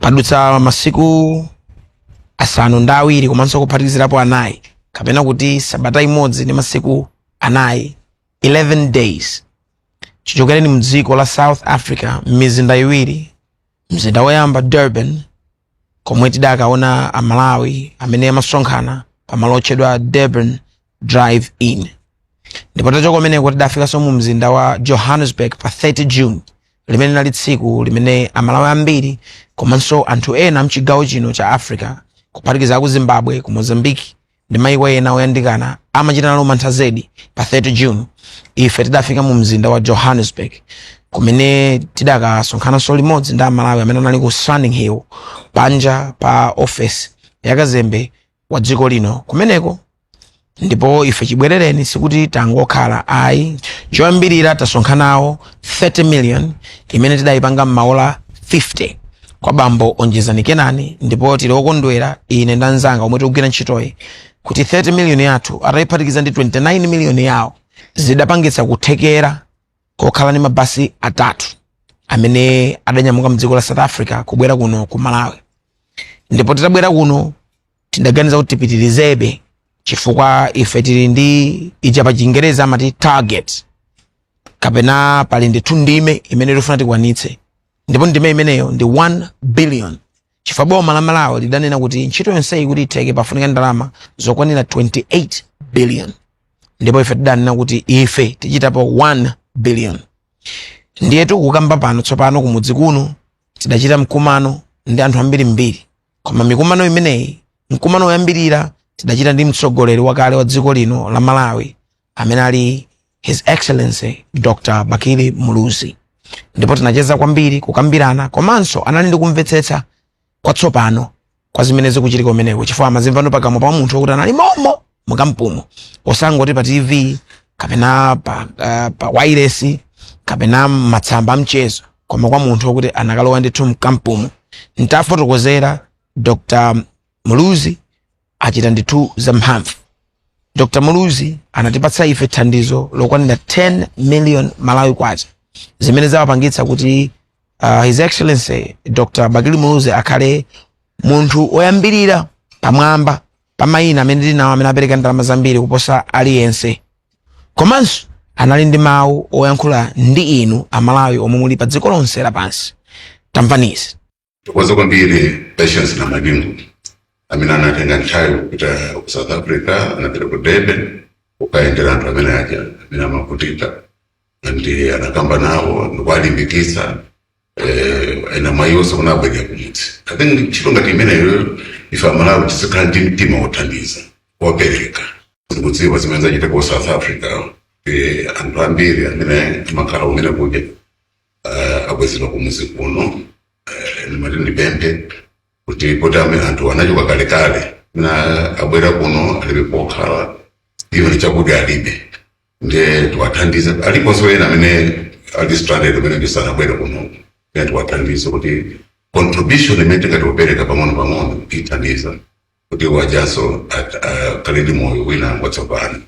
padutsa masiku asanu ndi awiri komanso kuphatikizirapo anayi kapena kuti sabata imodzi ndi masiku anayi 11 days chichokereni mdziko la south africa m'mizinda iwiri mzinda woyamba durban komwe tidakaona amalawi amene amasonkhana pamalo otchedwa durban drive in ndipo tachoka kumeneko tidafikanso mu mzinda wa johannesburg pa 30 june limene linali tsiku limene amalawi ambiri komanso anthu ena mchigawo chino cha africa kuphatikiza aku zimbabwe ku mozambique ndi maiko ena oyandikana amachita nalo mantha zedi pa 30 june ife tidafika mu mzinda wa johannesburg kumene tidakasonkhananso limodzi ndi amalawi amene anali ku Sandton Hill panja pa office ya kazembe wa dziko lino kumeneko ndipo ife chibwerereni sikuti tangokhala ayi choyambirira tasonkhanawo 30 million imene tidayipanga m'maola 50 kwa bambo onjezani kenani ndipo tili okondwera ine ndi anzanga omwe tikugwira ntchitoyi kuti 30 million yathu atayiphatikiza ndi 29 million yawo zidapangitsa kuthekera kokhala ndi mabasi atatu amene adanyamuka mdziko la south africa kubwera kuno ku malawi ndipo titabwera kuno tidaganiza kuti tipitirizebe chifukwa ife tili ndi ija pa chingerezi amati target kapena pali ndithu ndime imene tikufuna tikwanitse ndipo ndime imeneyo ndi 1 billion chifukwa boma la malawi lidanena kuti ntchito yonseyi kuti itheke pafunika ndalama zokwanira 28 billion ndipo ife tidanena kuti ife tichitapo 1 billion ndiye tikukamba pano tsopano kumudzi kuno tidachita mkumano ndi anthu ambirimbiri koma mikumano imeneyi mkumano woyambirira tidachita ndi mtsogoleri wakale wa dziko lino la malawi amene ali his excellency dr bakili muluzi ndipo tinacheza kwambiri kukambirana komanso anali ndi kumvetsetsa kwatsopano kwa zimene zikuchitika kumeneko chifukwa amazimvano pakamwa pa munthu wokuti anali momo mukampumo osangoti pa tv kapena pa, uh, pa wailesi kapena matsamba amchezo koma kwa munthu wokuti anakalowa ndithu mkampumo ntafotokozera dr muluzi achita ndithu zamphamvu dr muluzi anatipatsa ife thandizo lokwanira 10 million malawi kwacha zimene zawapangitsa kuti uh, his excellency dr bakili muluzi akhale munthu oyambirira pamwamba pa mayina amene tinawo amene apereka ndalama zambiri kuposa aliyense komanso anali ndi mawu oyankhula ndi inu amalawi omwe muli pa dziko lonse lapansi tamvanizi Tithokoze kwambiri Patience Namadingo amene anatenga nthawi kupita ku South Africa, anapita ku Durban kukayendera anthu amene aja amene amavutika ndi anakamba nawo ndikuwalimbikitsa eh, ena mmayiwonse kuno abwera kumudzi i think ntchito ngati imeneyo ife amalawi tizikhala ndi mtima wothandiza wopereka ndikudziwa zimene zachitika ku south africa eh, anthu ambiri amene amakhala kumene kuja uh, abwezedwa kumudzi kuno uh, ndimati ndipemphe kuti poti amene anthu anachoka kalekale na abwera kuno alibe pokhala even chakudya alibe nde tiwathandize aliponso ena amene ali stranded amene asanabwere kuno nde tiwathandize kuti contribution imene tingati tipereke pang'ono pang'ono ithandiza kuti awonso akhale ndi moyo wina watsopano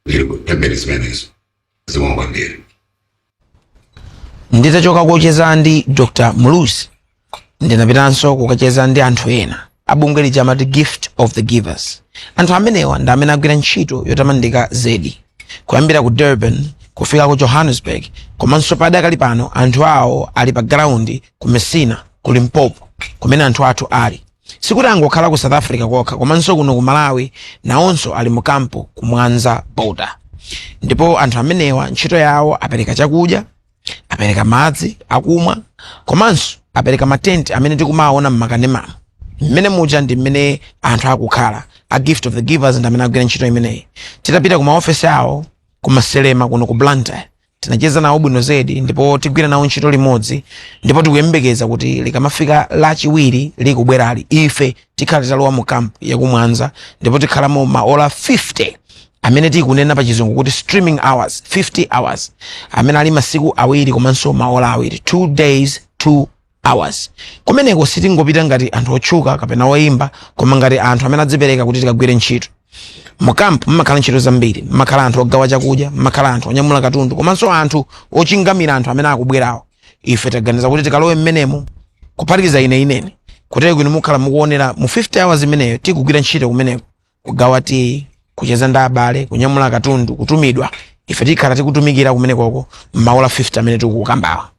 ndiri kupempha zimenezo zikomo kwambiri nditachoka kocheza ndi dr muluzi ndinapitanso kukacheza ndi anthu ena abungwe lija amati gift of the givers anthu amenewa ndi amene agwira ntchito yotamandika zedi kuyambira ku durban kufika ku johannesburg komanso padakali pano anthu awo ali pa ground ku messina ku limpopo kumene anthu athu ali Sikuti angokhala ku South Africa kokha komanso kuno ku Malawi nawonso ali mu kampu ku Mwanza border. Ndipo anthu amenewa ntchito yawo apereka chakudya, apereka madzi akumwa komanso apereka matenti amene tikumaona m'makanemamu. Mmene muja ndi mmene anthu akukhala a gift of the givers ndi amene agwira ntchito imeneyi. Titapita ku maofesi awo ku Maselema kuno ku Blantyre tinacheza nawo bwino zedi ndipo tigwira nawo ntchito limodzi ndipo tikuyembekeza kuti likamafika lachiwiri likubwerali ife tikhala titalowa mu kampu yakumwanza ndipo tikhalamo maola 50 amene tikunena pa chizungu kuti streaming hours 50 hours amene ali masiku awiri komanso maola awiri 2 days 2 hours kumeneko sitingopita ngati anthu otchuka kapena oyimba koma ngati anthu amene adzipereka kuti tikagwire ntchito mu camp mumakhala ntchito zambiri mumakhala anthu ogawa chakudya mumakhala anthu onyamula katundu komanso anthu ochingamira anthu amene akubwerawo ife taganiza kuti tikalowe mmenemo kuphatikiza ineyo kuti inu mukhala mukuonera mu 50 hours imeneyo tikugwira ntchito kumeneko kugawa tiyi kucheza ndi abale kunyamula katundu kutumidwa ife tikhala tikutumikira kumenekoko maola 50 amene tikukambawa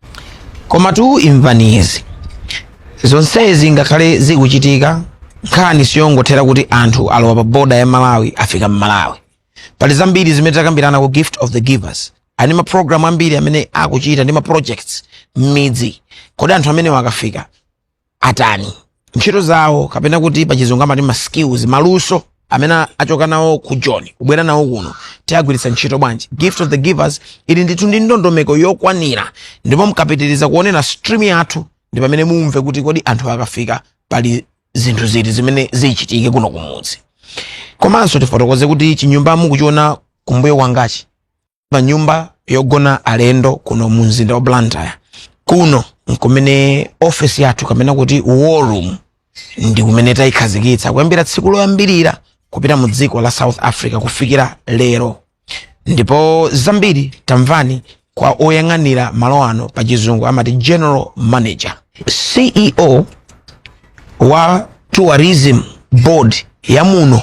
komatu imvani izi zonsezi ngakhale zikuchitika nkhani siyongothera kuti anthu alowa pa boda ya malawi afika mmalawi pali zambiri zimene takambirana ku gift of the givers ali ndi maprogram ambiri amene akuchita ndi maprojects m'midzi kodi anthu amenewa akafika atani ntchito zawo kapena kuti pachizungu amati ma skills maluso amene achoka nawo ku joni kubwera nawo kuno tiagwiritsa ntchito bwanji gift of the givers ili ndithu ndi ndondomeko yokwanira ndipo mkapitiriza kuonera stream yathu ndi pamene mumve kuti kodi anthu akafika pali zinthu ziti zimene zichitike kuno kumudzi komanso tifotokoze kuti chinyumba mukuchiona kumbuyo kwangachi pa nyumba yogona alendo kuno mu mzinda wa blantyre kuno nkumene office yathu kapena kuti war room ndi kumene tayikhazikitsa kuyambira tsiku loyambirira kupita mu dziko la south africa kufikira lero ndipo zambiri tamvani kwa oyang'anira malo ano pa chizungu amati general manager ceo wa tourism board ya muno